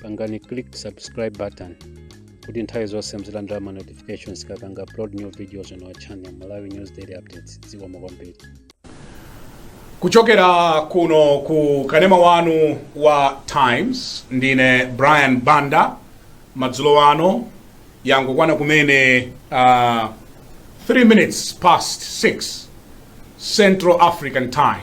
pangani click subscribe button kuti nthawi zonse muzilandira ma notifications tikapanga upload new videos on our channel malawi news daily updates zikomo kwambiri kuchokera kuno ku kanema wanu wa times ndine brian banda madzulo ano yangokwana kumene uh, 3 minutes past 6 central african time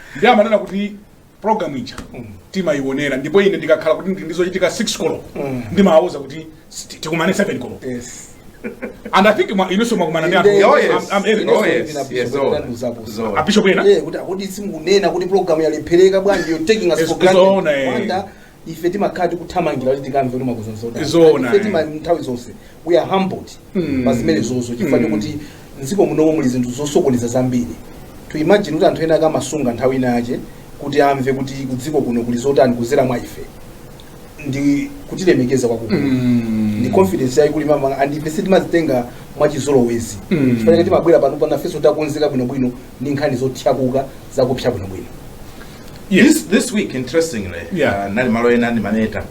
ndiye amanena kuti program ija timayionera ndipo ine ndikakhala kuti ndi ndizochitika 6 koloko ndimawauza kuti "Sti- tikumane 7 koloko yes and i think ma- inenso mwakumana ndi anthu Inde- Oh, yes. I'm- I'm Eric. Oh, yes. Ndina Yes, Bishop zoona. Ndinamuzapo. Zoona. abishop ena Eh, kuti kodi simukunena kuti program yalephereka bwanji you're taking us Yes, for granted. zoona, eh. Wanda, ife timakhala tikuthamangira kuti tikamve kuti mwakonza zotani. Zoona, Ife eh. tima- nthawi zonse we are humbled Mm. pa zimenezozo chifukwa Mm. chokuti mdziko munomo muli zinthu zosokoneza zambiri to imagine kuti anthu ena akamasunga nthawi ina yache kuti amve kuti kudziko kuno kuli zotani kuzera mwa ife ndi kutilemekeza kwakukulu Mm. ndi confidence yayikulu mwa ife and ife sitimazitenga mwachizolowezi Mm. chifukwa chake timabwera pano panafenso takonzeka bwinobwino ndi nkhani zothyakuka zakupsa bwinobwino Yes. This, this week interestingly Yeah. uh, nali malo ena ndimameta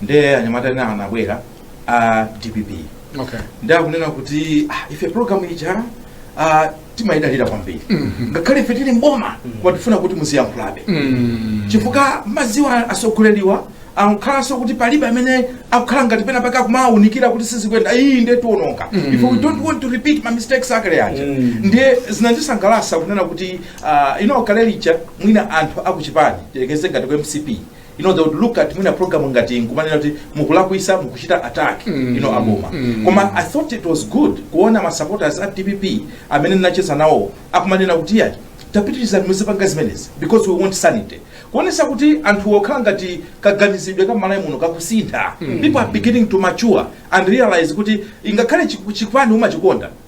ndiye anyamata ena anabwera a dpp Okay. ndiye akunena kuti ah, ife program ija ah, timayidalira kwambiri ngakhale ife tili mboma koma tifuna kuti muziyankhulabe Mm. chifukwa mudziwa asogoleriwa amakhalanso kuti palibe amene akukhala ngati pena pake akuwawunikira kuti sizikuyenda ayi ndiye tiononga if we don't want to repeat ma mistakes akale aja ndiye zinandisangalasa kunena kuti Uh, you know kale lija mwina anthu akuchipani tilekeze ngati ku mcp you know they would look at mwina program ngati nkumanena kuti mukulakwitsa mukuchita attack mm. you know aboma mm. koma i thought it was good kuona ma supporters a dpp amene ndinacheza nawo akumanena kuti yayi tapitirizani muzipanga zimenezi because we want sanity kuonesa kuti anthu zikukhala ngati kaganizidwe ka malawi muno kakusintha mm. people are beginning to mature and realize kuti ingakhale chipani umachikonda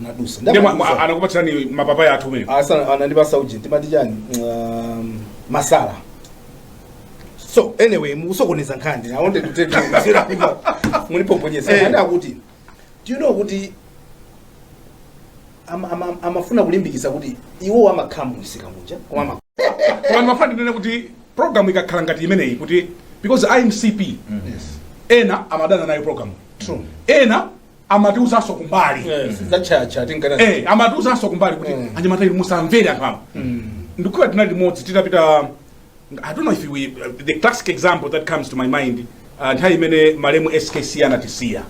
nadusa Ndiye mwa- mwa- Ndamadusa. anakupatsirani mapapaya athu amene Asa- anandipasa uji timati chani Um, masawu so anyway mukusokoneza nkhani i wanted to take you zero people munipoponyesa Eh. banda kuti do you know kuti ama- ama- amafuna kulimbikisa kuti iwo amakhala munsika muja koma ama- koma ndimafuna ndinene kuti program ikakhala ngati imeneyi kuti because a mcp ena amadana nayo program True. ena amatiuzanso kumbali za chancha timakana Eh, amatiuzanso kumbali kuti Mm. anyamata inu musamvere anthu awa ndikumbuka tinali limodzi titapita i don't know if we, the classic example that comes to my mind uh, nthawi imene malemu skc anatisiya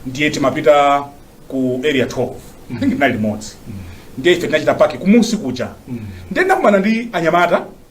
ndiye timapita ku area 12 i think tinali limodzi ndiye ife tinachita paki kumunsi kuja ndiye ndakumana ndi anyamata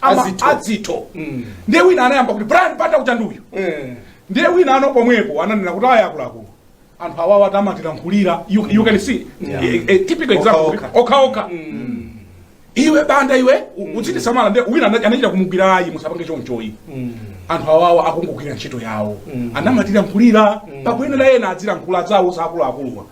ama Azitho. adzitho Mm. ndiye wina anayamba kuti brian banda uja ndi uyu Eh. ndiye wina ano pomwepo ananena kuti aya akuluakulu anthu awawa tamatilankhulira you, you can see Yeah. a, a typical example Okhaokha. kuti okhaokha iwe banda iwe u- udzitisamala ndiye wina ana- anachita kumugwira ayi musapange chonchoyi Mm. anthu awawa akungogwira ntchito yawo amatilankhulira pakuyenera ena adzilankhula zawo za akuluakuluwa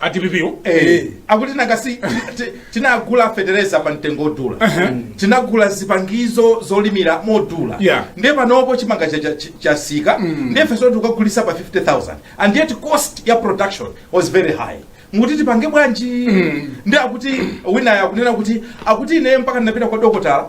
a dpp wo Eh. akuti nanga si ti- tinagula fetereza pa mtengo odula tinagula zipangizo zolimira modula Yeah. ndiye panopo chimanga cha- cha- chatsika ndiye tikagulitsa pa 50000 and yet cost ya production was very high mukuti tipange bwanji ndi akuti winayo akunena kuti akuti ine mpaka ndinapita kwa dokotala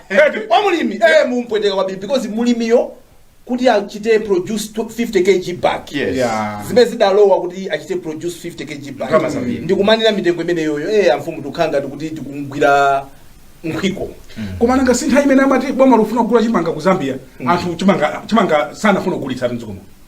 Eti. kwa mulimi eh mumpweteka kwambiri because mulimiyo kuti achite produce 50 kg bag Yes. Yeah. zimene zidalowa kuti achite produce 50 kg bag Ndalama zambiri. ndikumanira mitengo imeneyoyo eh amfumu tukhala ngati kuti tikumgwira nkhwiko koma nanga si nthawi imene amati boma lufuna kugula chimanga ku zambia anthu chimanga chimanga sanafuna kugulitsa m'dzikomo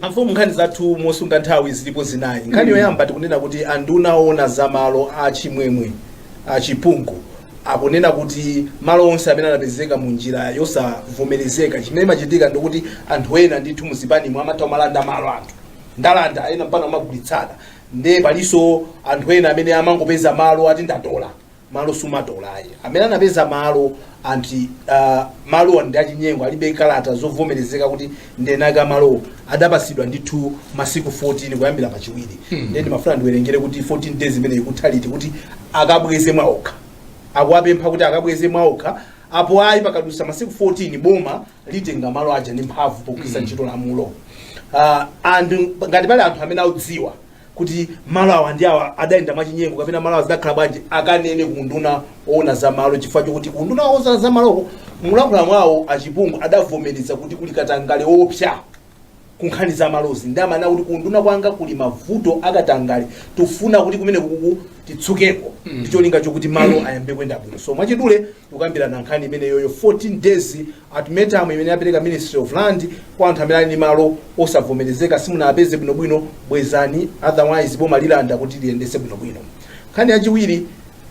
Amfumu nkhani zathu mosunga nthawi zilipo zinayi. Nkhani yoyamba tikunena kuti anduna owona za malo a Chimwemwe Chipungu akunena kuti malo onse amene anapezeka mu njira yosavomerezeka chimene imachitika ndikuti anthu ena ndithu mu zipanimu amatha kumalanda malo anthu atalanda ena mpaka kumagulitsana nde palinso anthu ena amene amangopeza malo ati ndatola malo sumatola ayi amene anapeza malo anti uh, malo ndi achinyengo alibe kalata zovomerezeka kuti ndi eni ake a malowo adapatsidwa ndithu masiku 14 kuyambira pachiwiri hmm. nde ndimafuna ndiwerengere kuti 14 days imeneyi ikutha liti kuti akabweze mwaokha akuwapempha kuti akabweze mwaokha apo ayi pakadutsa masiku 14 boma litenga malo aja ndi mphamvu pogwiritsa ntchito lamulo uh, and ngati pali anthu amene audziwa kuti malo awa ndi awa adayenda mwachinyengo kapena malo awa zidakhala bwanji akanene ku unduna woona za malo chifukwa chokuti ku unduna woona za maloko mulankhula mwawo a chipungu adavomereza kuti kuli katangale woopsa ku nkhani za malozi ndiye amanena kuti ku unduna kwanga kuli mavuto akatangale tufuna kuti kumenekuku titsukeko ndi cholinga chokuti malo ayambe kuyenda bwino so mwachidule tukambirana nkhani imeneyoyo 14 days ultimatum imene apereka ministry of land kwa anthu amene ali ndi malo osavomerezeka simunapeze bwinobwino bwezani otherwise boma lilanda kuti liyendetse bwinobwino nkhani yachiwiri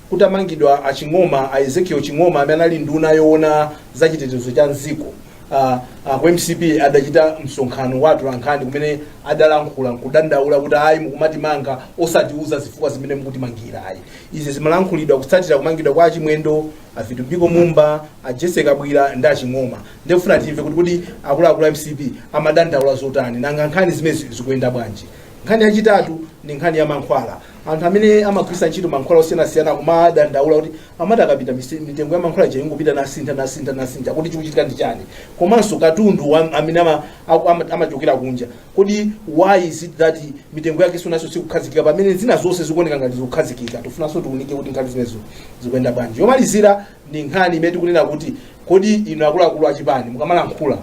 kutamangidwa a ching'oma a ezekiel ching'oma amene anali nduna yoona za chitetezo cha m'dziko uh, uh, ku mcp adachita msonkhano wa atolankhani kumene adalankhula nkudandaula kuti ayi mukumatimanga osatiuza zifukwa zimene mukutimangira ayi Izi zimalankhulidwa kutsatira kumangidwa kwa a Chimwendo, a Vitumbiko Mumba, a Jessy Kabwila ndi a Ching'oma. Ndiye tikufuna timve kuti kodi akuluakulu a mcp amadandaula zotani, nanga nkhani zimenezi zikuyenda bwanji? Nkhani yachitatu ndi nkhani ya mankhwala. Anthu amene amagwiritsa ntchito mankhwala osiyanasiyana akumadandaula kuti amati akapita mise- mitengo ya mankhwala ija ingopita nasintha nasintha nasintha kuti chikuchitika ndi chani, komanso katundu wa- amene ama- aku- ama- amachokera kunja Kodi why is it that mitengo yake isonanso sikukhazikika pamene zina zonse zikuoneka ngati zikukhazikika? Tifunanso tiunike kuti nkhani zimenezo zikuyenda bwanji. Yomalizira ndi nkhani imene tikunena kuti kodi inu akuluakulu achipani mukamalankhula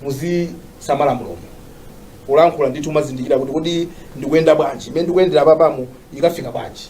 muzisamala mlomo kulankhula ndithu mumazindikira kuti kodi ndikuyenda bwanji imene ndikuyendera panomu ikafika bwanji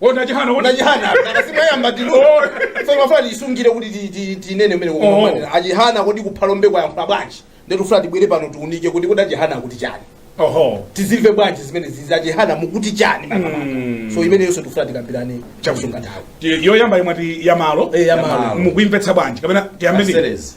A Chihana, a Chihana. Akasimwayamba tino. Oh. So timafuna tiisungire kuti ti- ti- tinene mene Oh. kumanira. Achihana kodi ku Phalombe akayankhula bwanji. Nde tifuna tibwere pano tiunike kuti kodi achihana kuti chani. Oho. Tizimve bwanji zimene izi achihana mukuti chani makamaka. Mm. So imene yonse tifuna tikambirane chakusunga nthawi. Ti- Yoyamba imati yamalo. Eh, yamalo. Mukuimvetsa bwanji kapena tiyambe ndi. Kaseres.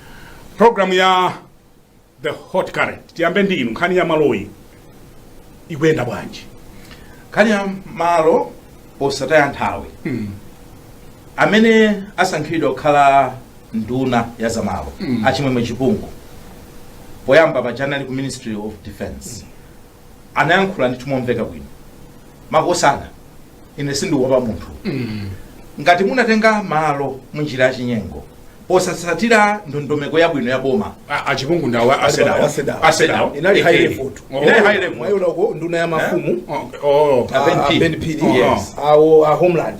programu ya the hot current tiyambe ndi inu nkhani ya maloyi ikuyenda bwanji nkhani ya malo posataya nthawi amene asankhidwa kukhala nduna ya zamalo achimwemwe chipungu poyamba paja ali ku ministry of defense anayankhula ndithu momveka bwino makosana ine sindikuopa munthu ngati munatenga malo mu njira ya chinyengo posatsatira ndondomeko yabwino ya boma A- achipungu ndawo asedawo Asedawo. asedawo Inali high level. Oh. Inali high level. Mwayiona uko nduna ya mafumu Oh, oh. Ah, Ben ah, Phiri. Ben Phiri. Yes. awo a homeland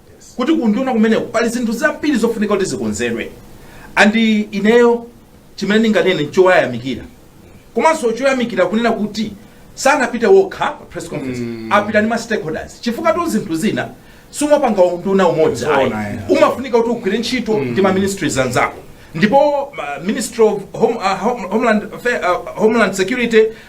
kuti kunduna kumeneko pali zinthu zambiri zofunika kuti zikonzedwe and ineyo chimene ndinganene nchoyamikira komanso choyamikira kunena kuti sanapite okha pa press conference apita ndi ma stakeholders chifukwatu zinthu zina sumapanga unduna umodzi ayi. Zoona, yeah. umafunika kuti ugwire ntchito ndi ma ministries anzako ndipo ma- ministry of home, uh, home, homeland, Affair- uh, homeland security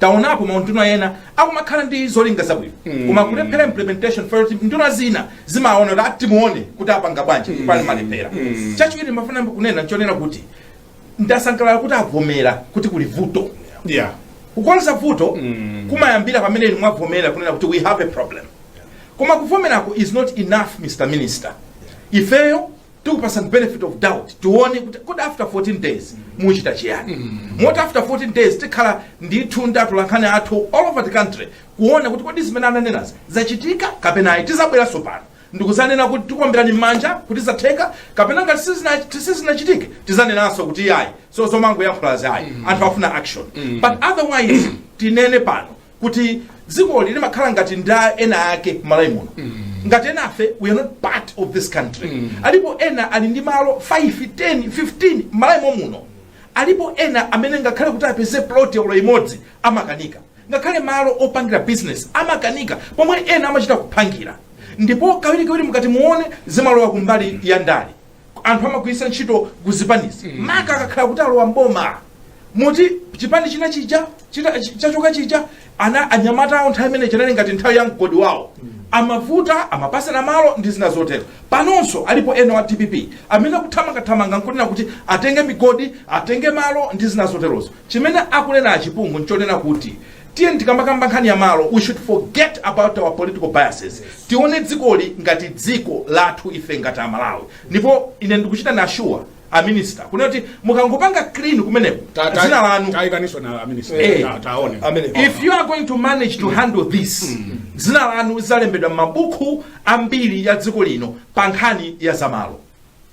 taonapo maunduna ena akumakhala ndi zolinga zabwino koma kulephera implementation for kuti nduna zina zimaona kuti timuone kuti apanga bwanji pali malephera chachiwiri ndimafuna kunena nchonena kuti ndasangalala kuti avomera kuti kuli vuto yeah kukonza vuto kumayambira pamene inu mwavomera kunena kuti we have a problem koma kuvomerako is not enough mr minister ifeyo tikupasani benefit of doubt tione kuti kodi after 14 days muchita chiyani moti after 14 days tikhala ndithu ndi atolankhani athu all over the country kuona kuti kodi zimene ananenazi zachitika kapena ayi tizabweranso pano ndikuzanena kuti tikuomberani m'manja kuti zatheka kapena ngati sizina- sizinachitike tizanenanso kuti ayi so zomangoyankhulazi ayi anthu afuna action but otherwise tinene pano kuti dzikoli limakhala ngati ndi a ena ake m'malawi muno ngati enafe we are not part of this country alipo ena ali ndi malo 5 10 15 m'malawi momuno alipo ena amene ngakhale kuti apeze plot yolo imodzi amakanika ngakhale malo opangira business amakanika pomwe ena amachita kuphangira ndipo kawirikawiri mukati muone zimalowa kumbali ya ndale anthu amagwiritsa ntchito ku zipanizi maka akakhala kuti alowa mboma moti chipani china chija chita- chi- chachoka chija ana anyamata awo nthawi imene chinali ngati nthawi ya mgodi wawo amavuta amapasana malo ndi zina zotero panonso alipo ena a dpp amene akuthamangathamanga nkunena kuti atenge migodi atenge malo ndi zina zoterozo chimene akunena achipungu nchonena kuti Tiyeni tikamakamba nkhani ya malo we should forget about our political biases tione dzikoli ngati dziko lathu ife ngati amalawi ndipo ine ndikuchita na assure a minister kunena kuti mukangopanga clean kumeneko Ta- ta- dzina lanu taikaninso na aminisita Eh. Ta- taone Amene. if you are going to manage to handle this dzina lanu lizalembedwa m'mabuku ambiri ya dziko lino pa nkhani ya zamalo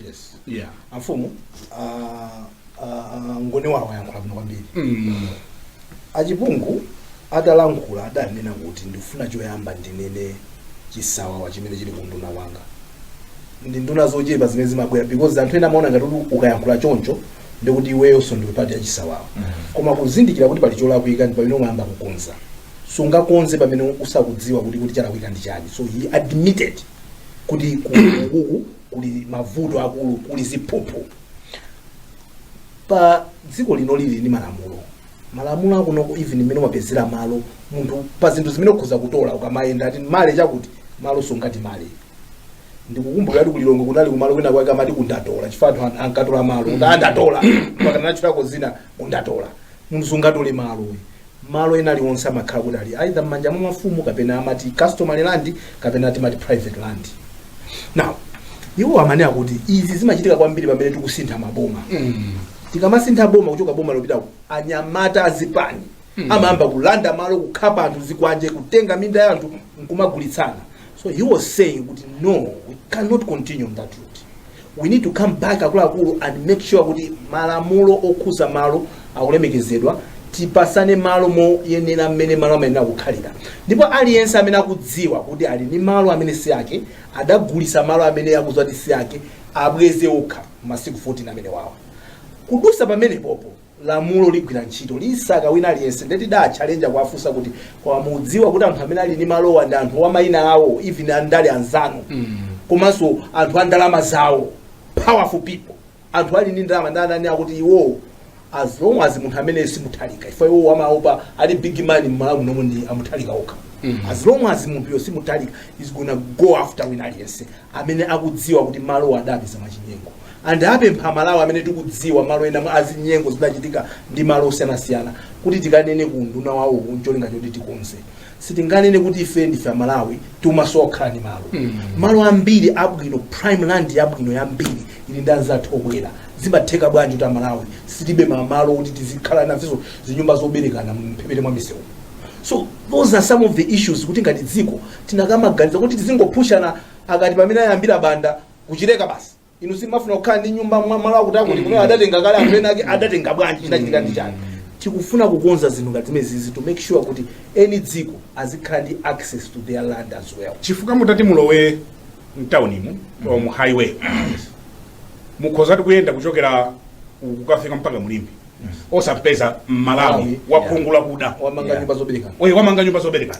yes yeah amfumu ah, ah, ah, ngone wawo ayankhula bwino kwambiri mm. achipungu atalankhula adanena kuti ndifuna choyamba ndinene chisawawa chimene chili ku unduna wanga ndi nduna zochepa zimene zimabwera because anthu ena amaona ngati kuti ukayankhula choncho ndikuti iweyonso ndiwe part ya chisawawa koma kuzindikira kuti pali cholakwika ndi pamene umayamba kukonza sungakonze pamene usakudziwa kuti kuti chalakwika ndi chani so he admitted kuti kuku kuli mavuto akulu kuli ziphuphu pa dziko lino lili ndi malamulo malamulo akuno ku even mmene umapezera malo munthu pa zinthu zimene ukhoza kutola ukamayenda ati ndale chakuti malo sungatole ndikukumbukira kuti ku Lilongwe kunali kumalo kwina kwake amati kundatola chifukwa anthu an- ankatola malo kuti andatola mpaka anatchulako dzina kundatola munthu sungatole malo uyu. malo ena aliwonse amakhala kuti ali either m'manja mwa mafumu kapena amati customary land kapena timati private land now iwo amanena kuti izi zimachitika kwambiri pamene tikusintha maboma tikamasintha boma kuchoka boma lopita ku anyamata azipani amayamba kulanda malo kukhapa anthu zikwanje kutenga minda ya anthu nkumagulitsana so he was saying kuti no we cannot continue on that route We need to come back akuluakulu and make sure kuti malamulo okhuza malo akulemekezedwa tipasane malo moyenera mmene malo amayenera kukhalira ndipo aliyense amene akudziwa kuti ali ndi malo amene si ake adagulisa malo amene akudziwa kuti si ake abweze okha m'masiku 14 amenewawa kudusa pamenepopo lamulo ligwira ntchito lisake wina aliyense nde tidaatchalenja kuwafunsa kuti koma mudziwa kuti anthu amene ali ndi malowa ndi anthu a mayina awo even andale anzanu komanso anthu a ndalama zawo powerful people anthu ali ndi ndalama ndi ana anati iwowo as long as munthu amene si Mutharika ife iwowo amaopa ali big man m'Malawi muno ndi a Mutharika okha as long as munthuyo si Mutharika he's gonna go after wina aliyense amene akudziwa kuti malowa adapeza mwachinyengo and apempha amalawi amene tikudziwa malo ena azinyengo zidachitika ndi malo osiyanasiyana kuti tikanene ku unduna wawo ncholinga choti tikonze sitinganene kuti ife ndife amalawi timasowa kukhala ndi malo malo ambiri abwino prime land yabwino yambiri ili ndi anzathu obwera zimatheka bwanji kuti amalawi tilibe malo kuti tizikhala nazo zinyumba zoberekana mphepete mwa misewu so those are some of the issues kuti ngati dziko Tinakamaganiza kuti tizingophushana apa ndi pamene ayambira Banda ku Chileka basi inu simufuna kukhala ndi nyumba mmalo akuti akuti kumeneko adatenga kale anthu ena ake adatenga bwanji chinachitika ndi chani tikufuna kukonza zinthu ngati zimenezi to make sure kuti eni dziko azikhala ndi access to their land as well chifukwa mutati mulowe mtaunimu or mu highway mukhozatu kuyenda kuchokera uku kukafika mpaka mu Limbe osapeza mmalawi Malawi, wakhungu lakuda wamanga Yeah. nyumba zoberekana oye wamanga nyumba zoberekana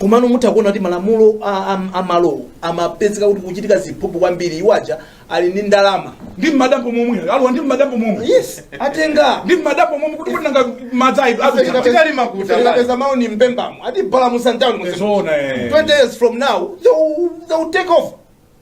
komano mutha kuona kuti malamulo a- a- a malowo amapezeka kuti kuchitika ziphuphu kwambiri awa aja ali ndi ndalama ndi mmadambo momwe alowa ndi mmadambo momwe yes atenga ndi mmadambo momwe kuti kuti nanga madzi ayi adutsa tikali makuta tikapeza mawuni m'mphembamo atibalalitsa mtawuni zoona eh. 20 years from now they will, they will take over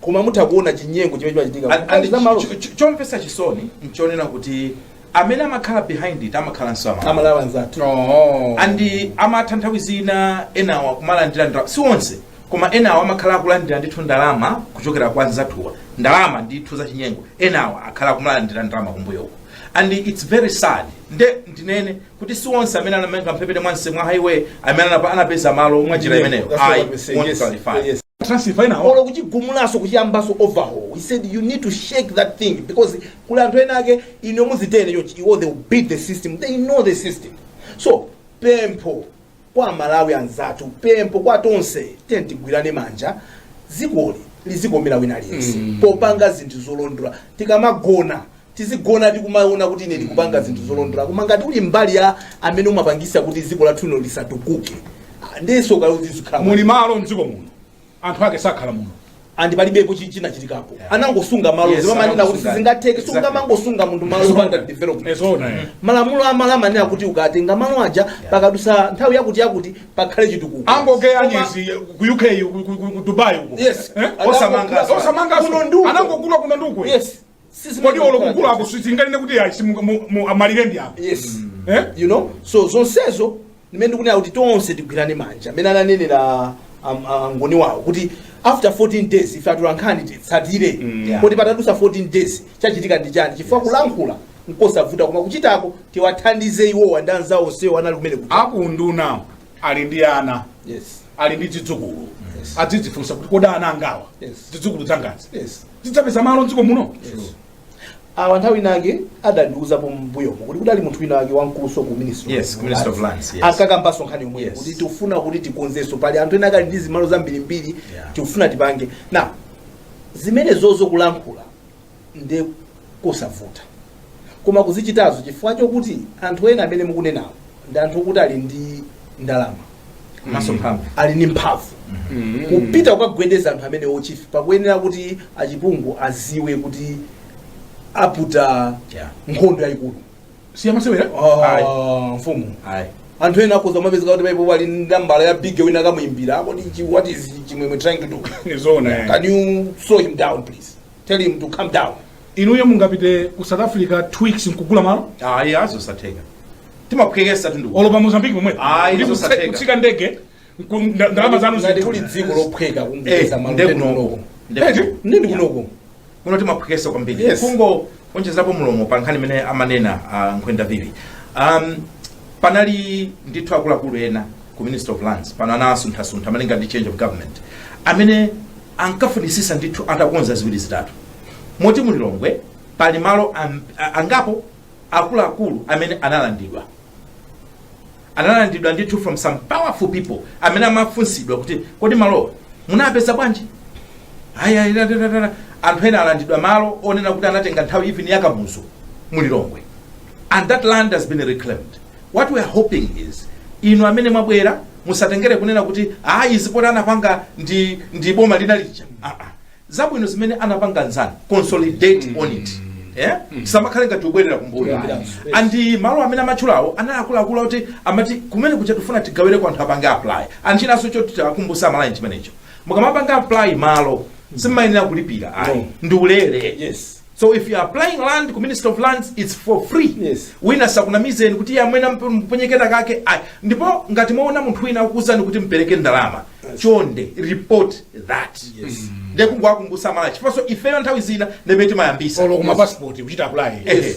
koma mutha kuona chinyengo chimene chimachitika And- and za malo ch- ch- chomvetsa chisoni nchonena kuti amene amakhala behind it amakhala ndi amalawi anzathu Oh. andi amatha nthawi zina enawa kumalandira ndalama si onse koma enawa amakhala akulandira ndithu ndalama kuchokera kwa anzathuwa ndalama ndithu za chinyengo enawa akhala akumalandira ndalama kumbuyoko and its very sad nde ndinene kuti si onse amene anamanga mphepete mwamse- mwa highway amene anapa- anapeza malo mwa njira imeneyo That's what Ayi, we say. won't Yes, qualify. yes. transfer ina olo kuchigumulaso kuchiyambaso overhaul we said you need to shake that thing because kuli anthu ena ake inu muziti ine chonchi iwo they will beat the system they know the system so pempho kwa amalawi anzathu pempho kwa tonse tiyeni tigwirane manja dzikoli lizikomera wina aliyense popanga zinthu zolondola tikamagona tizigona tikumaona kuti ine ndikupanga zinthu zolondola koma ngati uli mbali ya amene umapangisa kuti dziko lathu lino lisatukuke ah, ndiyenso ukazizikhala muli malo mdziko muno anthu ake sakhala muno andi palibepo chi- chikuchitikapo Yeah. anangosunga malo Yes, zimamanena kuti anangosunga. sizingatheke Exactly. sungamangosunga munthu malo opanda development ee zoona eh. malamulo a malo amanena kuti ukatenga malo aja pakadutsa nthawi yakuti yakuti pakhale chitukuko angogeya Koma- nyezi ku uk ku- ku- ku- ku dubai uko Yes. Eh? Anangogula- osamanga Osamanga kuno ndi uko. anangogula kuno ndi uko yes kodi olo kukula apo sitinganene kuti ayi simu- mu- mu- amalire ndi apo yes Eh? you know so zonsezo ndimene ndikunena kuti tonse tigwirane manja mmene ananenera am- angoni wawo kuti after 14 days ife atolankhani titsatire Yeah. kodi patadusa 14 days chachitika ndi chani chifukwa kulankhula nkosavuta koma kuchitako tiwathandize iwowa ndi anzawo onsewo anali kumene kuja. akunduna ali ndi ana yes ali ndi zidzukulu Yes. adzidzifunsa kuti kodi ana angawa Yes. zidzukulu zangazi yes zidzapeza malo mdziko muno yes awa nthawi inake adandiuzapo mbuyomo kuti kudali munthu winake wamkuluso ku ministry Yes, ku Ministry of Lands, yes. ankakambanso nkhani yomweyo Yes. kuti tikufuna kuti tikonzenso pali anthu enake ali ndi zimalo zambirimbiri Yeah. tikufuna tipange na zimenezozo kulankhula ndi kosavuta koma kuzichitazo chifukwa chokuti anthu ena amene mukunenawo ndi anthu okuti ali ndi ndalama komanso mphamvu ali ndi mphamvu kupita kukagwedeza anthu amenewo chief pakuyenera kuti achipungu aziwe kuti aputa Yeah. nkhondo yayikulu siyamasewera Ayi. Ah, mfumu ayi anthu ena akhoza kumapezeka kuti paipo ali ndi nambala ya big wina akamuyimbira kodi chi- what is chimwemwe trying to do nizoona can you slow him down please Tell him to calm down. inuyo mungapite ku south africa two weeks nkugula malo Ayi nzosatheka. Timaphwekesatu ndikuti. olo pa mozambique pomwe Ayi, Kuti kutse- zosatheka. kutsika ndege nku- nda- ndalama zanu Ngati kuli zinthu. dziko lophweka Eh, kupeza malo nde kunoko. kunoko. Nde Eti? kunoko. Nde ndi kunoko. Muno timaphwekesa kwambiri. Yes. Kungoonjezapo mulomo pa nkhani imene amanena ah, nkhwenda vivi. Um, panali ndithu akuluakulu ena ku ministry of lands pano anawasunthasuntha malinga ndi change of government amene ankafunisisa ndithu atakonza ziwiri zitatu moti mu lilongwe pali malo am- a- angapo akuluakulu amene analandidwa analandidwa ndithu from some powerful people amene amafunsidwa kuti kodi malowa munapeza bwanji Aya, ira, ira, ira, ira. anthu ena alandidwa malo onena kuti anatenga nthawi even ya kamuzu mu lilongwe and that land has been reclaimed what we are hoping is inu amene mwabwera musatengere kunena kuti ayi izi poti anapanga ndi, ndi boma lina lija ah, ah. zabwino zimene anapanga nzanu consolidate on it Yeah? tisamakhale ngati kubwerera kumbuyo and malo amene amatchulawo anali akuluakulu akuti amati kumene kuja tifuna tigawire kwa anthu apange apply and chinaso choti tiwakumbutse amalawi chimenecho mukamapanga apply malo simayenera kulipira ayi ndi ulere yes So if you're applying land ku Ministry of Lands, it's for free. Yes. Wina sakunamizeni kuti iyayi amwene ampe- muponye kenakake. ayi. Ndipo ngati mwaona munthu wina akukuuzani kuti mpereke ndalama, chonde report that. Nde kungowakumbusa amalawi chifukwaso ifeyo nthawi zina ndi amene timayambisa. olo kuma passport kuchita apply Ehe.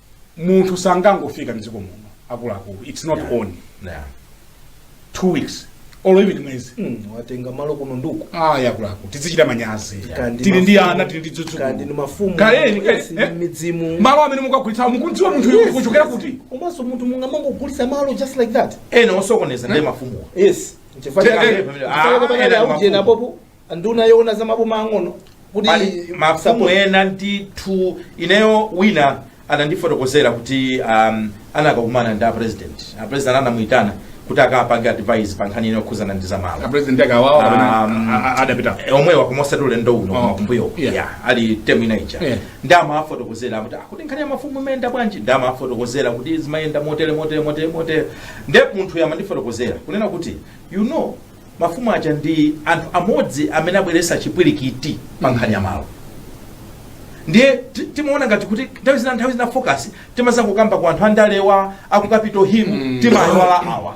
munthu sangangofika mdziko muno akuluakulu its not yeah. on yeah. two weeks or even mwezi mm, watenga malo kuno nduku ah yakulaku tizichita manyazi tili ndi ana tili ndi zidzukulu kandi ndi mafumu kaleni eh? eh? midzimu malo amene mukagulitsa mukudziwa munthu yes, kuchokera kuti komanso munthu mungamangogulitsa malo just like that ena osokoneza ndi eh? mafumu yes chifukwa cha ah, ah, ena mafumu nduna yoona za maboma ang'ono kuti pali mafumu ena ndithu ineyo wina anandifotokozera kuti um, anakakumana ndi a president a president anamuyitana kuti akapange advice pa nkhani ino yokhuzana ndi zamalo a president akawawa kapena Um, a- a- adapita Eh, omwewa koma osati ulendo uno Oh, kumbuyo yeah. yeah, ali temu ina ija Yeah. ndiye amawafotokozera kuti akuti nkhani ya mafumu imayenda bwanji ndiye amawafotokozera kuti zimayenda motere motere motere motere nde munthuyo amandifotokozera kunena kuti you know mafumu aja ndi anthu amodzi amene abweretsa chipwirikiti pa nkhani ya malo ndiye ti- timaona ngati kuti nthawi zina nthawi zina focus timazangokamba kwa anthu andalewa aku Capital Hill Mm. timaiwala awa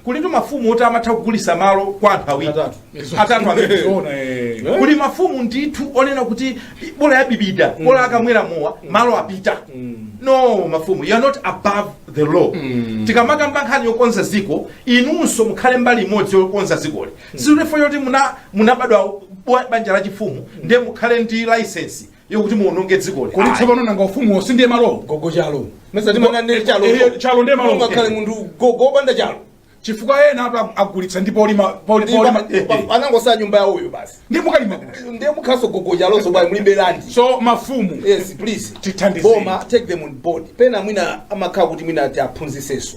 kulitu mafumu oti amatha kugulisa malo kwa anthu awiri Atatu. atatu amene Zoona, eh. kuli mafumu ndithu onena kuti bola ya bibida bola akamwera mowa malo apita no mafumu you are not above the law tikamakamba nkhani yokonza ziko inunso mukhale mbali imodzi yokonza dzikoli sizifukwa zoti muna- munabadwa bwa- banja la chifumu ndiye mukhale ndi laisensi yokuti muononge dzikoli kodi Ayi. tsopano nanga ufumuwo si ndiye malowo gogo chalo mesa timanena ndi chalo Eh, chalo ndiye malo. ngakhale munthu gogo opanda chalo chifukwa ena apa agulitsa ndi polima poli- polima eh, eh. anangosa nyumba yawoyo basi ndiye mukalima kuti ndiye mukhaso gogo chaloso bwanji mulibe landi so mafumu yes please Tithandizeni. boma take them on board pena mwina amakhala kuti mwina ati aphunziseso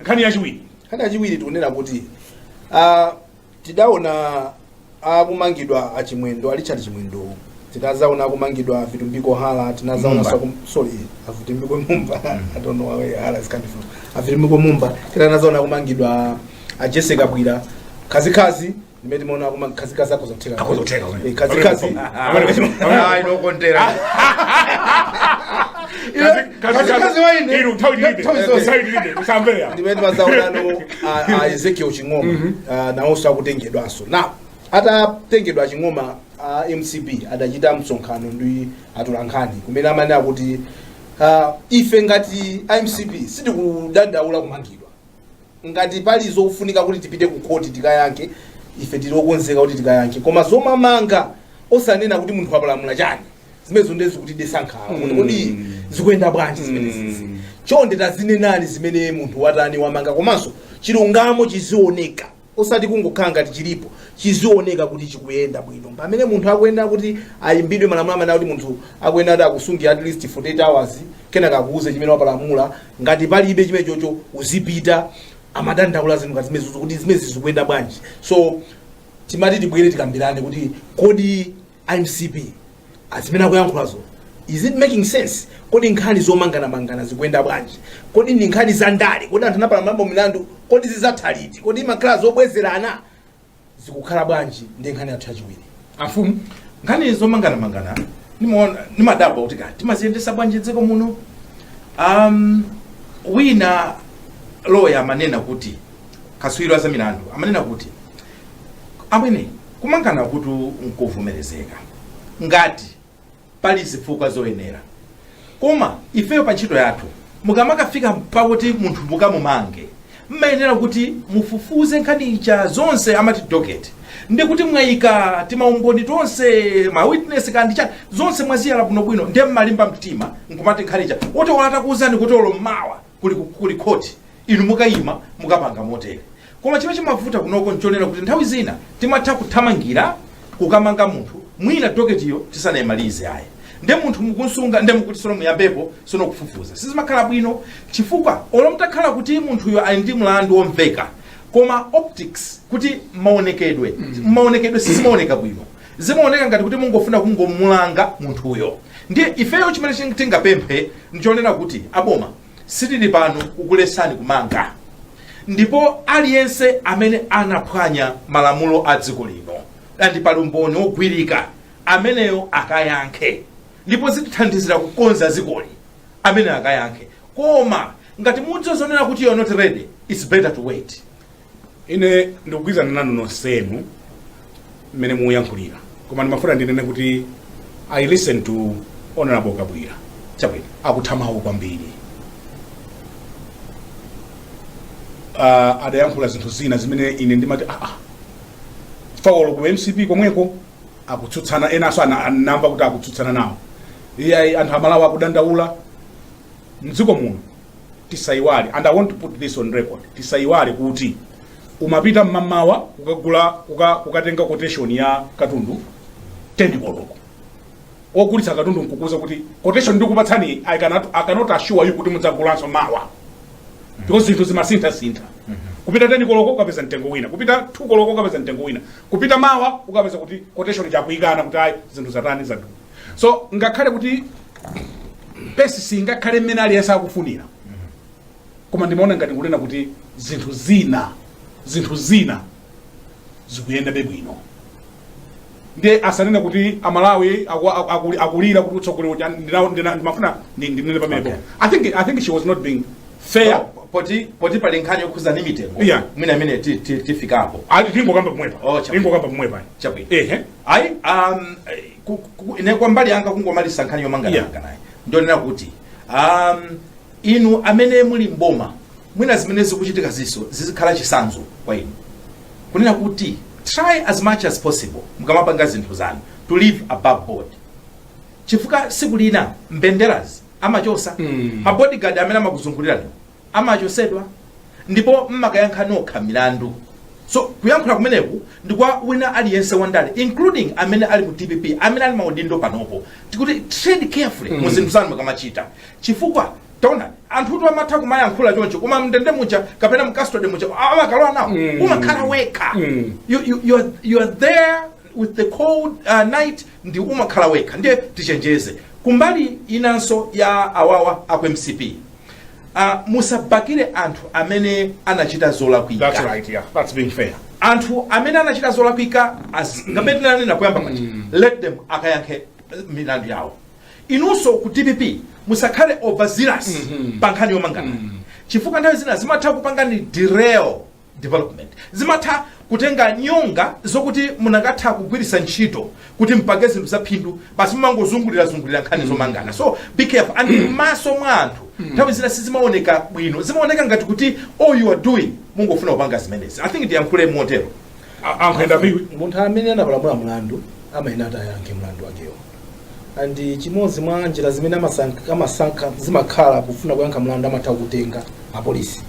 nkhani yachiwiri nkhani yachiwiri tikunena kuti uh, tidaona akumangidwa achimwendo a richard chimwendowo tinazaona akumangidwa a vitumbiko hala tinazaona Mumba. sakum- sorry a vitumbiko mumba i don't know where hala is coming from a vitumbiko mumba kenaka tinazaona akumangidwa a jessie kabwila khazikhazi Ndimene timaona koma mkazi kazi akhoza kutheka. Akhoza kutheka kumene. Eh, kazi kazi. Ayi nokondera. Kazikazi waine. Iru nthawi tilibe. Nthawi zonse. Nthawi tilibe. Kusamvera. Ndimene timazaonano a- a Ezekiel Ching'oma ah, nawonso akutengedwanso. Now atatengedwa Ching'oma a MCP adachita msonkhano ndi atolankhani kumene amene akuti ah, ife ngati a MCP sitikudandaula kumangidwa. Ngati pali zofunika kuti tipite ku court tikayankhe, ife tili okonzeka kuti tikayankhe. Koma zomamanga osanena kuti munthu wapalamula chani, zimenezo ndiye zikutidetsa nkhawa kuti kodi zikuyenda bwanji zimenezizi. Chonde tazinenani zimene munthu watani wamanga komanso chilungamo chizioneka. osati kungokhala ngati chilipo chizioneka kuti chikuyenda bwino pamene munthu akuyenera kuti ayimbidwe malamulo amene akuti munthu akuyenera kuti akusungira at least 48 hours kenaka akuuze chimene wapalamula ngati palibe chimene chocho uzipita amadandaula zinthu ngati zimenezo kuti zimenezi zikuyenda bwanji so timati tibwere tikambirane kuti kodi a mcp azimene akuyankhulazo is it making sense kodi nkhani zomanganamangana zikuyenda bwanji kodi ndi nkhani za ndale kodi anthu anapalamulapo milandu kodi zizatha liti kodi zimakhala zobwezerana zikukhala bwanji ndi nkhani yathu yachiwiri afumu nkhani zomanganamangana nimaona- nimadabwa kuti kaya timaziyendesa bwanji dziko muno um, wina loya amanena kuti kaswiro wa za milandu amanena kuti amwene Kumangana kutu nkuvomerezeka ngati pali zifukwa zoyenera koma ifeyo pa ntchito yathu mukamakafika pakuti munthu mukamumanga mmayenera kuti mufufuze nkhani ija zonse amati docket ndi kuti mwayika timaumboni tonse ma witness kandi chani zonse mwaziyala bwinobwino ndiye mmalimba mtima nkumati nkhani ija woti olo atakuuzani kuti olo mmawa kuli, kuli khoti inu mukayima mukapanga motere koma chimene chimavuta kunoko nchonena kuti nthawi zina timatha kuthamangira kukamanga munthu mwina doketiyo tisanayimalize ayi nde munthu mukumsunga nde mukuti sono muyambepo sono kufufuza sizimakhala bwino chifukwa olo mtakhala kuti munthuyo ali ndi mlandu womveka koma optics kuti maonekedwe mmaonekedwe sizimaoneka bwino Zimaoneka ngati kuti mungofuna kungomulanga munthuyo. Ndiye ifeyo chimene ching- tingapemphe ndichonena kuti aboma sitili pano kukuletsani kumanga ndipo aliyense amene anaphwanya malamulo a dziko lino andi pali umboni wogwirika ameneyo akayankhe ndipo zitithandizira kukonza dzikoli ameneyo akayankhe koma ngati mudzizionera kuti you're not ready it's better to wait ine ndikugwirizana nanu nonsenu mmene muyankhulira koma ndimafuna ndinene kuti i listen to honorable kabwira chabwino akuthamawo kwambiri uh, adayankhula zinthu zina zimene ine ndimati aa fawolo ku mcp komweko akutsutsana enanso ana- anamba kuti akutsutsana nawo iyayi anthu amalawi akudandaula mdziko muno tisaiwale and i want to put this on record tisaiwale kuti umapita mmamawa kukagula kuka, kukatenga quotation ya katundu 10 koloko ogulitsa katundu nkukuuza kuti quotation ndikupatsani i cannot, I cannot assure you kuti mudzagulanso mawa because zinthu zimasinthasintha kupita 10 koloko ukapeza mtengo wina kupita 2 koloko ukapeza mtengo wina kupita mawa ukapeza kuti quotation ija akuyikana kuti ayi zinthu zatani zadu so ngakhale kuti pace singakhale mmene aliyense akufunira koma ndimaona ngati kunena kuti zinthu zina zinthu zina zikuyendabe bwino ndiye asanene kuti amalawi aku- aku- akuli- akulira kuti utsogoleri uja ndina- ndina- ndimafuna ndi- ndinene pamenepo Okay. I think- i think she was not being fair So, poti poti pali nkhani yokhuza ndi mitengo Yeah. mwina imene ti- ti- tifikapo ayi tingokamba pomwepa Oh, chabwino. tingokamba pomwepa chabwino ehe ayi um, ku- ku- ine kwa mbali yanga kungomaliza nkhani yomangananga naye ndionena kuti um, inu amene muli mboma mwina zimene zikuchitikazi so zizikhala chisanzo kwa inu kunena kuti try as much as possible mukamapanga zinthu zanu to live above board chifukwa siku lina mbenderazi amachosa Mm. mabodyguard amene amakuzungulirani amachosedwa ndipo mmakayankha nokha milandu so kuyankhula kumeneku ndi kwa wina aliyense wandale including amene ali mu dpp amene ali maudindo panopo tikuti tread carefully mm. muzinthu zanu mukamachita chifukwa taona anthu tu amatha kumayankhula choncho koma mndende muja kapena m'custody muja samakalowa nawo mm. umakhala wekha mm. you, you, you, are, you are there with the cold uh, night ndi umakhala wekha ndiye tichenjere kumbali inanso ya awawa aku mcp uh, musabakire anthu amene anachita zolakwika That's right, yeah. That's being fair. anthu amene anachita zolakwika as- ngati tinanena kuyamba paja let them akayankhe eh, milandu yawo inunso ku dpp musakhale overzealous pa nkhani yomangana chifukwa nthawi zina zimatha kupangani derail development zimatha kutenga nyonga zokuti munakatha kugwiritsa ntchito kuti mpange zinthu zaphindu basi mumangozungulira zungulira nkhani zomangana so be careful and m'maso mwa anthu nthawi zina sizimaoneka bwino zimaoneka ngati kuti all you are doing mungofuna kupanga zimenezi i think ndiyankhule motero A- ankhwenda piwi munthu amene anapalamula mlandu amayenera akayankhe mlandu wakewo and chimodzi mwa njira zimene amasank- amasankha zimakhala kufuna kuyankha mlandu amatha kutenga apolisi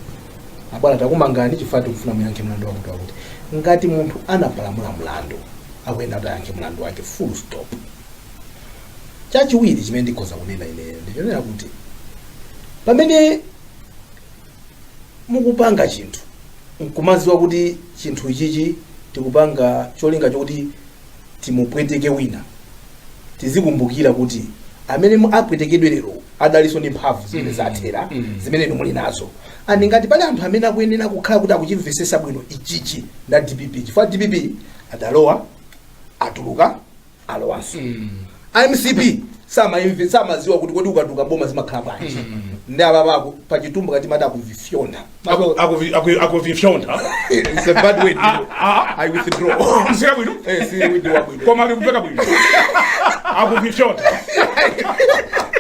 abwana takumangani chifukwa tikufuna muyankhe mlandu wakuti wakuti ngati munthu anapalamula mlandu akuyenera kuti ayankhe mlandu wake full stop chachiwiri chimene ndikhoza kunena ineyo ndichonena kuti pamene mukupanga chinthu nkumaziwa kuti chinthu ichichi tikupanga cholinga chokuti timupweteke wina tizikumbukira kuti amene mu- apwetekedwe lero adalinso ndi mphamvu zimene zathera zimene inu muli nazo and ngati pali anthu amene akuyenera kukhala kuti akuchimvesesa bwino ichichi nda dpp chifukwa dpp adalowa atuluka alowanso a mcp samaimve samaziwa kuti kodi ukatuka boma zimakhala bwanji ndi apapa aku- pa chitumbuka timati akuvifyonda Aku- akuvi- aku- akuvifyonda It's a bad word. I withdraw. si kabwino Eh, si word ya bwino. koma likupeka bwino akuvifyonda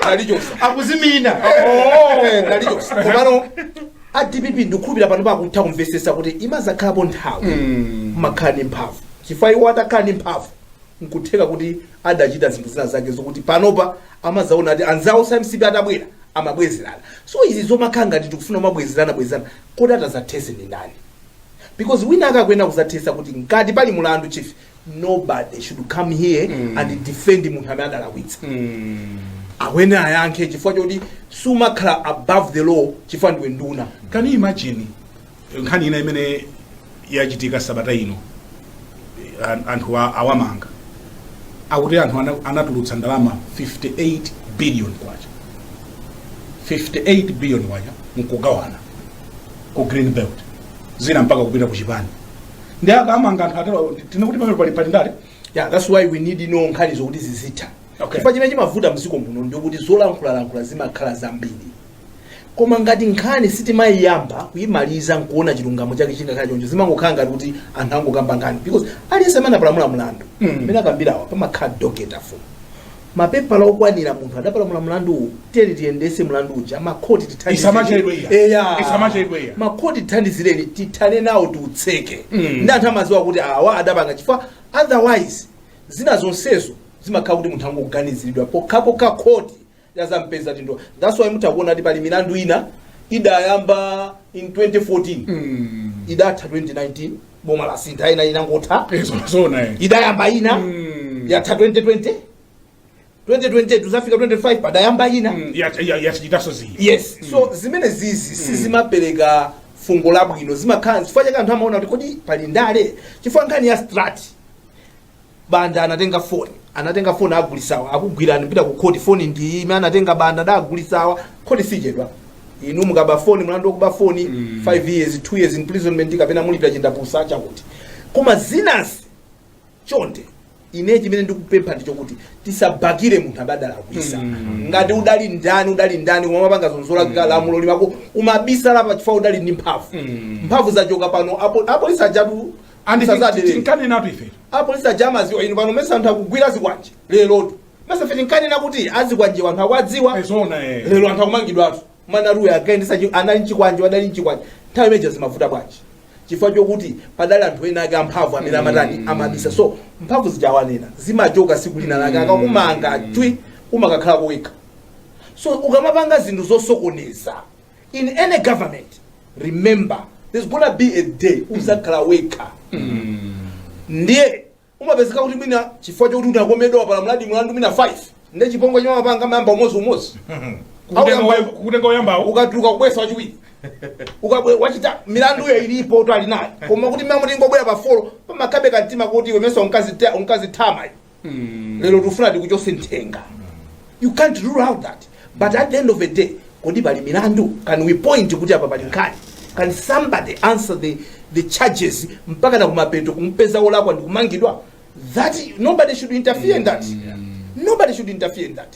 Nalichosa. akuzimina Eh, nalichosa. Komano a dpp ndikukhulupira pano pakutha kumvesesa kuti imazakhalapo nthawi umakhala ndi mphamvu chifukwa iwo atakhala ndi mphamvu Nkutheka kuti adachita zinthu zina zake zokuti panopa amadzaona ati anzawo a mcp atabwera amabwezerana so izi zomakhala ngati tikufuna kumabwezerana bwezerana kodi atazathese ndi ndani because wina wake akuyenera kuzathesa kuti ngati pali mlandu chief nobody should come here mm. and defend munthu amene adalakwitsa mm. abwere ayankhe chifukwa choti sumakhala above the law chifukwa ndiwe nduna can you imagine nkhani ina imene yachitika sabata ino eh, an- anthu a- awamanga akuti anthu ana- anatulutsa ndalama 58 billion kwacha 58 billion kwacha nkugawana ku green belt zina mpaka kupita ku chipani nde akamanga anthu atero tinene kuti pamene pali pali ndale yeah that's why we need no nkhani zokuti zizitha Okay. chifukwa chimene chimavuta mdziko muno ndikuti zolankhulalankhula zimakhala zambiri koma ngati nkhani sitimayiyamba kuyimaliza nkuona chilungamo chake zikakhala choncho zimangokhala ngati kuti anthu angokamba nkhani because aliyense amene apalamula mlandu Mm. amene akambirawa pamakhala docket file mapepala okwanira munthu adapalamula mlandu uwu tiyeni tiyendese mlandu uja makhoti Isamachedwe eya. tithandize eya Isamachedwe eya. makhoti tithandizireni tithane nawo tiutseke Mm. ndi anthu amaziwa kuti awa adapanga chifukwa otherwise zina zonsezo zimakhala kuti munthu angoganiziridwa pokhapokha khoti lazampeza ndiye that's why mutha kuona kuti pali milandu ina idayamba in 2014 Mm. idatha 2019 boma lasintha ina inangotha Nzo zona eh. idayamba ina Mm. yatha 2020 2020 kuzafika 25 padayamba ina Mm, ya- ya- ya- chitaso ziyi. yes so zimenezizi sizimapereka fungo labwino zimakhala chifukwa chake anthu amaona kuti kodi pali ndale chifukwa nkhani ya strat banda anatenga foni anatenga foni agulisawa akugwirani mpita ku khoti foni ndi iyi imene anatenga banda nde agulisawa khoti sichedwa inu mukaba foni mlandu wokuba foni 5 years 2 years imprisonment kapena mulipira chindapusa chakuti koma zinazi chonde ine chimene ndikupempha ndi chokuti tisabakire munthu aba adalakwisa ngati udali ndani udali ndani umapanga zophwanya mm. lamulo mmalo umabisala pa chifukwa udali ndi mphamvu mphamvu zachoka pano apo- apolisi ajatu And Sasa ti- adelele. tinkanenatu ife apolisi aja amaziwa inu pano nesa anthu akugwira zikwanje lerotu nesa ife tinkanena kuti azikwanje anthu akuwadziwa zona eh. lero anthu akumangidwatu mana ruya akaendesa chi- anali mchikwanje adali mchikwanje nthawi imene ija zimavuta bwanji chifukwa chokuti padali anthu ena ake amphamvu amene amatani amabisa so mphamvu zija mwanena zimachoka siku lina lake akakumanga ndiye umakakhala wekha so ukamapanga zinthu zosokoneza in any government remember there's gonna be a day uzakhala wekha ndiye umapezeka kuti mwina chifukwa chokuti unakomedwa pali mlandu mlandu mwina 5 ndiye chipongwe chimene amapanga amayamba umodzi umodzi Auyamba- kutenga oyambawo ukatuluka kubwesa wachiwiri ukabwe wachita milanduyo ilipo uli nayo koma kuti amangobwera pa folo pamakhalabe kantima kuti iwe nesa unkazita- unkazitama iwe. lero tikufuna tikuchose nthenga you can't rule out that but at the end of the day kodi pali milandu can we point kuti apa pali nkhani can somebody answer the, the charges mpaka na kumapeto kumpeza wolakwa ndi kumangidwa that nobody should interfere in that nobody should interfere in that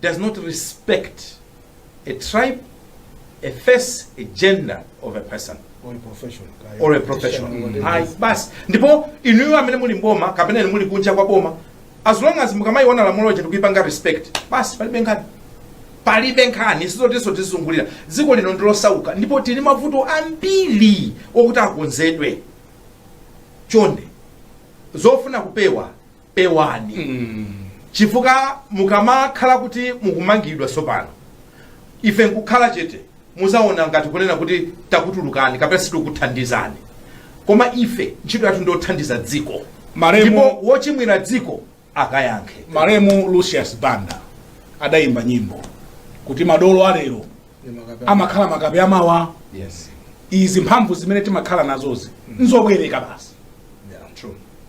does not respect a tribe, a face, a gender of a person or a profession kaya. or a profession. Whatever. Ayi, basi ndipo inuyo amene muli mboma kapena inu muli kunja kwa boma as long as mukamaliona lamulo lija ndikuyipanga respect basi palibe nkhani palibe nkhani sizotinso tizizungulira dziko lino ndilosauka ndipo tili mavuto ambiri okuti akonzedwe chonde zofuna kupewa pewani chifukwa mukamakhala kuti mukumangidwa tsopano ife nkukhala chete muzaona ngati kunena kuti takutulukani kapena sitikuthandizani koma ife ntchito yathu ndiyothandiza dziko Malemu- ndipo wochimwira dziko akayankhe malemu lucius banda adayimba nyimbo kuti madolo alero amakhala makape amawa yes izi mphamvu zimene timakhala nazozi ndi zobwereka basi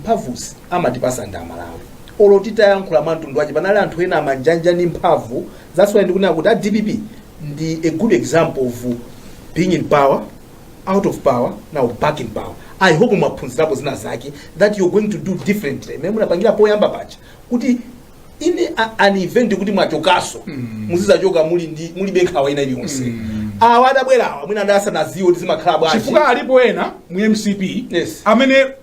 mphamvuzi amatipasa ndi amalawi olo titayankhula mwa mtundu wanji panali anthu ena amanja-manja ndi mphamvu that's why ndikunena kuti a dpp ndi a good example of being in power out of power now back in power i hope mwaphunzirapo zina zake that you're going to do differently mmene munapangira poyamba paja kuti in a- an event kuti mwachokaso muzizachoka muli ndi mulibe nkhawa ina iliyonse awa adabwerawa mwina anali asanaziwe kuti zimakhala bwanji chifukwa alipo ena mu mcp Yes. amene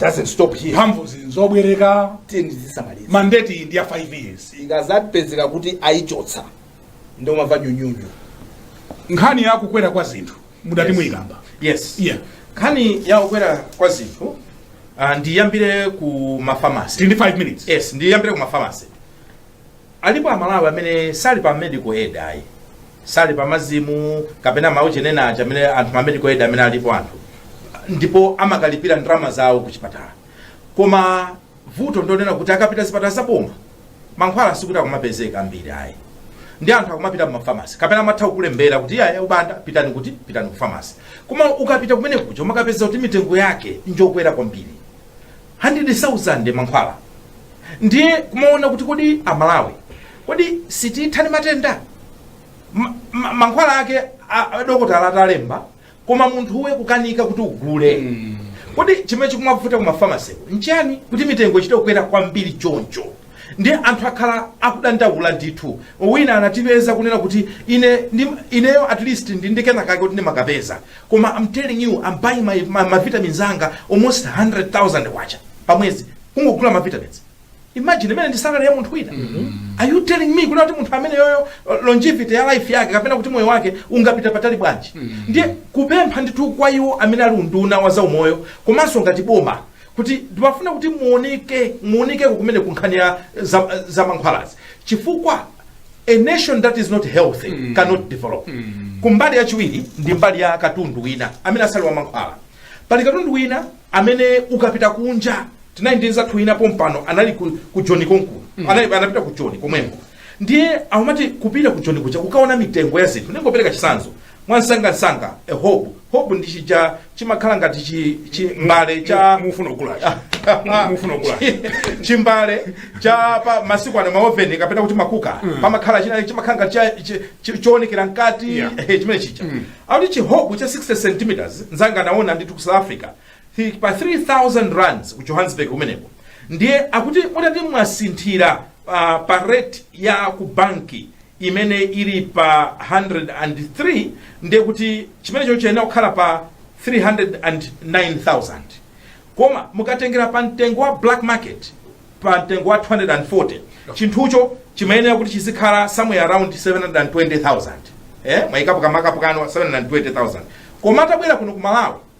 doesn't stop here mphamvu izi nzobwereka tiyeni tizisamaliza mandate iyi ndi ya 5 years ikazapezeka kuti ayichotsa ndiye umamva nyunyunyu nkhani ya kukwera kwa zinthu mudati Yes. muyikamba yes yeah nkhani ya kukwera kwa zinthu uh, ndiyambire ku mafamasi tili ndi 5 minutes yes ndiyambire ku mafamasi Alipo amalawi amene sali pa medical aid ayi sali pa MASM kapena maujeni ena aja amene anthu ma medical aid amene alipo anthu ndipo amakalipira ndalama zawo ku chipatala koma vuto ndonena kuti akapita zipatala zaboma mankhwala sikuti akumapezeka ambiri ayi ndiye anthu akumapita mumafamasi kapena amatha kukulembera kuti yayi a Banda pitani kuti pitani ku famasi koma ukapita kumene kuja umakapeza kuti mitengo yake njokwera kwambiri 100,000 mankhwala ndiye kumaona kuti kodi amalawi kodi sititha ndi matenda Ma- ma- mankhwala ake a- a- dokotala atalemba koma munthuwe kukanika kuti ugule kodi chimene chikumavuta ku mafamasiku nchiyani kuti mitengo ichite kukwera kwambiri choncho ndiye anthu akhala akudandaula ndithu wina anatipeza kunena kuti ine ndi- ineyo at least ndi ndi kenakake kuti ndimakapeza Koma I'm telling you I'm buying ma, ma, ma vitamins anga almost 100,000 kwacha pa mwezi kungogula ma vitamins. Imagine imene ndi salary ya munthu wina. Are you telling me kuti kuti munthu ameneyoyo uh, longevity ya life yake kapena kuti moyo wake ungapita patali bwanji? Ndiye kupempha ndithu kwa iwo amene ali unduna wa za umoyo komanso ngati boma kuti ndimafuna kuti muoneke muonekeko kumene kunkhani ya za, za mankhwalazi chifukwa A nation that is not healthy cannot develop. Kumbali yachiwiri ndi mbali ya katundu wina amene asali wa mankhwala. Pali katundu wina amene ukapita kunja tinali ndi nzathu wina pompano anali ku, ku Joni konkuno anali anapita ku Joni komweko ndiye amati kupita ku Joni kuja kukaona mitengo ya zinthu ndingopereka chisanzo mwamsangamsanga a hob hob ndi chija chimakhala ngati chi- chi- mbale cha mufuna kugulacho mufuna kugulacho chimbale cha pa masiku ano maoveni kapena kuti ma cooker pamakhala china chimakhala ngati cha- chi- chi- choonekera mkati Yeah. eh, chimene chija akuti chihobu cha 60 centimeters nzanga anaona ndi ku south africa Thi- pa 3000 rands ku johannesburg kumeneko ndiye akuti mutati mwasinthira pa, pa rate ya ku banki imene ili pa 103 ndiye kuti chimenecho chiyenera kukhala pa 309000 koma mukatengera pa mtengo wa black market pa mtengo wa 240 chinthucho chimayenera kuti chizikhala somewhere around 720000 eh mwayikapo ka mark up kanu 720000 koma atabwera kuno ku malawi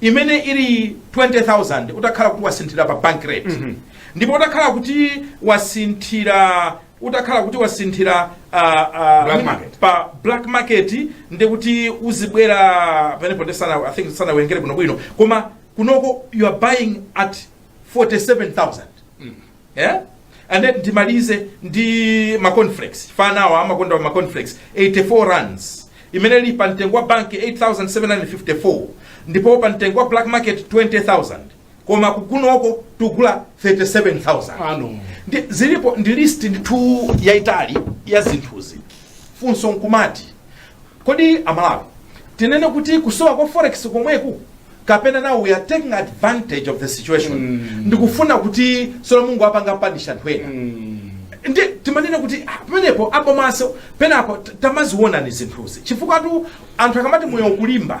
imene ili 20000 utakhala kuti wasinthira pa bank rate mm -hmm. ndipo utakhala kuti wasinthira utakhala kuti wasinthira uh, uh, black market. pa black market ndiye kuti uzibwera pamenepo ndi sana i think sanawerengere bwinobwino koma kunoko you are buying at 47000 yeah? and then ndimalize ndi ma cornflakes afanawa amakonda ma cornflakes 84 rands imene ili pa mtengo wa banki 8754 ndipo pa mtengo wa black market 20000 koma kugunoko tugula 37000 ano ndi, zilipo ndi list ndithu yaitali ya zinthuzi funso nkumati Kodi a Malawi tinene kuti kusowa kwa forex komweku kapena now we are taking advantage of the situation mm. ndikufuna kuti sono Mulungu apanga panisha anthu ena mm. ndi timanena kuti ah, pamenepo abomaso penapo tamaziwonani zinthuzi chifukwatu anthu akamati moyo kulimba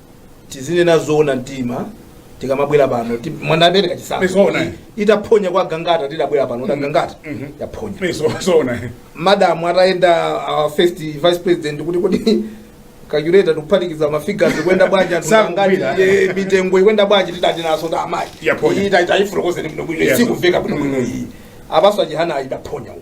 tizinena zoona mtima tikamabwera pano ti- mwana abereka Zoona. chisankho itaphonya kwa gangata tidabwera pano ta gangata Mhm. yaphonya Izo- zoona madamu atayenda uh, first vice president kuti kuti calculator tikuphatikiza mafigures kuyenda bwanji anthu Sakugwira. ngati, eh, mitengo ikuyenda bwanji tidati naso ta amayi Yaphonya. Iyi ta- tayifotokozeni bwino bwino Yes. sikuveka bwino bwino iyi abaso a Chihana ayidaphonya uko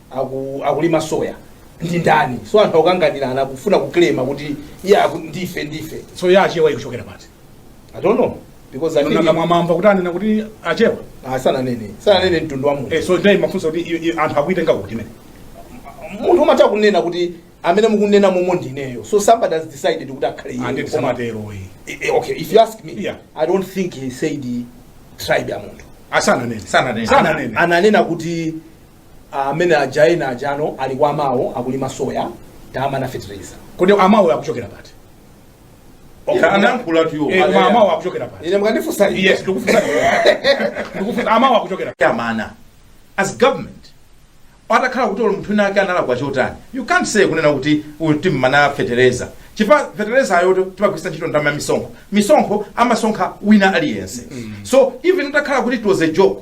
aku, akulima soya ndi ndani so anthu akukanganirana akufuna kuklema kuti iya aku- ndife ndife so ya achewa ikuchokera pati i don't know because I think- nanga mwamva kuti anena kuti achewa Ah, sananene sananene mtundu wa munthu Eh, so ndiye mafunso kuti i- i- anthu akuitenga kuti mene munthu umatha kunena kuti amene mukunena momo ndineyo so somebody has decided kuti akhale iyeyo. anditi Koma- samatero iyi Eh, eh, okay if you ask me Yeah. i don't think he said tribe ya munthu asananene Sananene. sananene ananena kuti amene aja ena ajano ali kwa mawo akulima soya tamana fertilizer kodi mawuwo akuchokera pati Okay, Yeah, ana- anayankhulatu iwo. Eh, koma Yeah. mawuwo akuchokera pati ine mukandifunsa ine. yes ndikufunsa ndikufunsa mawuwo akuchokera pati amana as government atakhala kuti olo munthu wina ake analakwa chotani you can't say kunena kuti uyu timmana fetereza chifukwa fetereza uyotu timagwiritsa ntchito ndalama ya misonkho misonkho amasonkha wina aliyense so even utakhala kuti it was a joke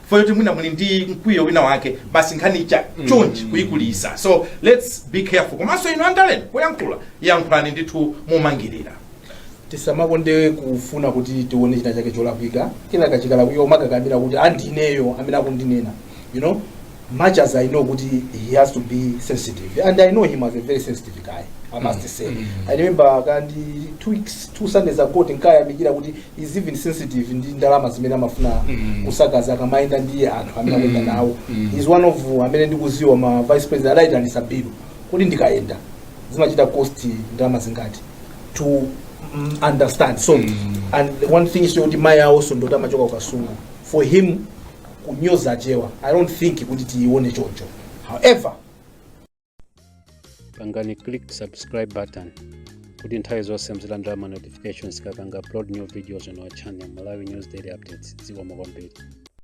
chifukwa choti mwina muli ndi mkwiyo wina wake basi nkhani ya chonchi kuyikulisa so let's be careful komanso inu andaleni poyankhula yankhulani ndithu momangirira tisamakonde kufuna kuti tione china chake cholakwika kina chikachikala kuyo mumakakamira kuti andineyo amene akundinena you know much as i know kuti he has to be sensitive and i know him as a very sensitive guy i must say i remember kandi two weeks two sundays ago tinkayamikira kuti he's even sensitive ndi ndalama zimene amafuna Mm. kusakaza akamayenda ndi anthu amene akuyenda Mm. nawo Mm. he's one of amene ndikuziwa ma vice president adayitanisa bill kuti ndikayenda zimachita cost ndalama zingati to mm, understand so Mm. and one thing is kuti mayi awonso ndoti amachoka ukasungu for him kunyoza achewa i don't think kuti tiyione choncho however pangani click subscribe button kuti nthawi zonse muzilandira ma notifications tikapanga upload new videos on our channel malawi news daily updates zikomo kwambiri